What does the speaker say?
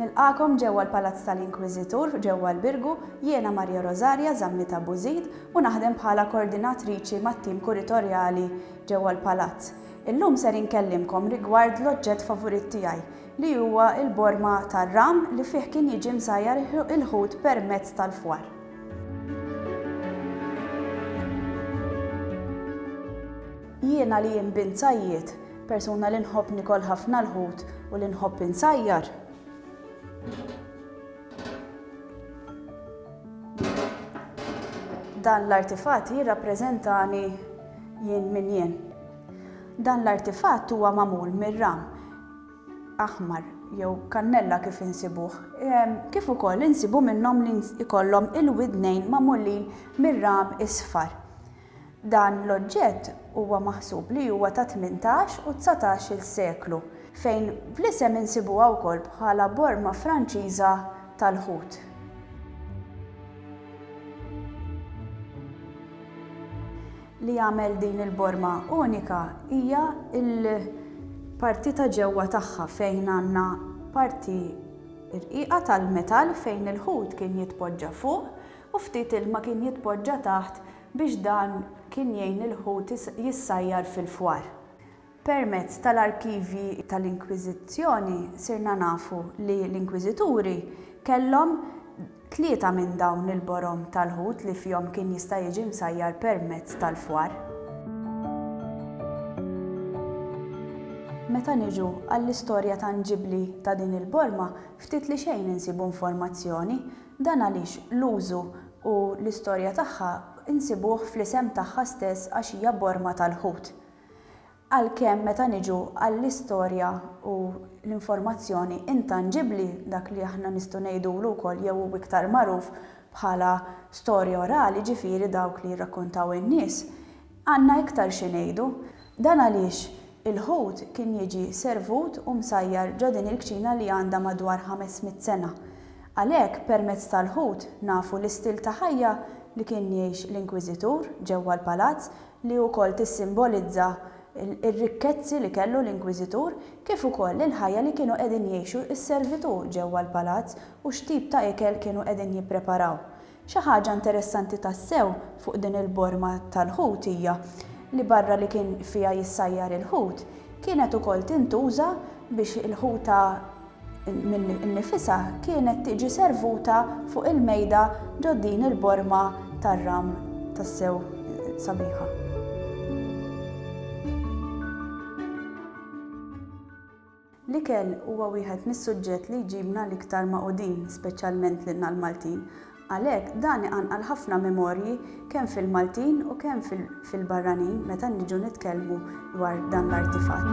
Nilqakom ġewwa l-Palazz tal-Inkwiżitur ġewwa l-Birgu, jiena Maria Rosaria Zammita Bużid u naħdem bħala Koordinatriċi mat-tim Kuritorjali ġewwa l-Palazz. Illum ser inkellimkom rigward l-oġġett favurit tiegħi, li huwa l-borma tar-ram li fih kien jiġi msajjar il-ħut permezz tal-fwar. Jiena li jien bint sajjied, persuna li nħobb nikol ħafna l-ħut u li nħobb insajjar, dan l-artifatt jirrappreżentani jien min jien. Dan l-artifatt huwa magħmul mir-ram aħmar jew kannella kif insibuh, kif ukoll insibu minnhom li jkollhom il-widnejn magħmulin mir-ram isfar. Dan l-oġġett huwa maħsub li huwa tat-tmintax u dsatax-il seklu, fejn fl-isem insibuha wkoll bħala borma Franċiża tal-ħut. Li jagħmel din il-Borma unika hija l-parti ta' ġewwa tagħha fejn għandna parti rqiqa tal-metall fejn il-ħut kien jitpoġġa fuq u ftit ilma kien jitpoġġa taħt biex dan kien jgħin lill-ħut jissajjar fil-fwar. Permezz tal-arkivji tal-Inkwiżizzjoni sirna nafu li l-Inkwiżituri kellhom tlieta minn dawn il-borom tal-ħut li fihom kien jista' jiġi msajjar permezz tal-fwar. Meta niġu għall-istorja tanġibbli ta' din il-borma, ftit li xejn insibu informazzjoni. Dan għaliex l-użu u l-istorja tagħha nsibuh fl-isem tagħha stess għax hija borma tal-ħut. Għalkemm meta niġu għall-istorja u l-informazzjoni intanġibbli, dak li aħna nistgħu ngħidulu wkoll jew hu iktar magħruf bħala storja orali, jiġifieri dawk li jirrakkontaw in-nies, għandna iktar xi ngħidu. Dan għaliex il-ħut kien jiġi servut u msajjar ġo din il-kċina li għandha madwar ħames mitt sena. Għalhekk permezz tal-ħut nafu l-istil ta' ħajja li kien jgħix l-Inkwiżitur ġewwa l-palazz li wkoll tissimbolizza r-rikkezzi li kellu l-Inkwiżitur, kif ukoll il-ħajja li kienu qegħdin jgħixu s-servitù ġewwa l-palazz u x'tip ta' ikel kienu qegħdin jippreparaw. Xi ħaġa interessanti tassew fuq din il-borma tal-ħut hija li barra li kien fiha jissajjar il-ħut, kienet ukoll tintuża biex il-ħuta, Milli nnifisha kienet tiġi servuta fuq il-mejda ġo din il-borma tar-ram tassew sabiħa. L-ikel huwa wieħed mis-suġġett li jġibna l-iktar magħqudin, speċjalment lilna l-Maltin, Għalhekk, dan iqanqal ħafna memorji kemm fil-Maltin u kemm fil-barranin meta niġu nitkellmu dwar dan l-artifatt.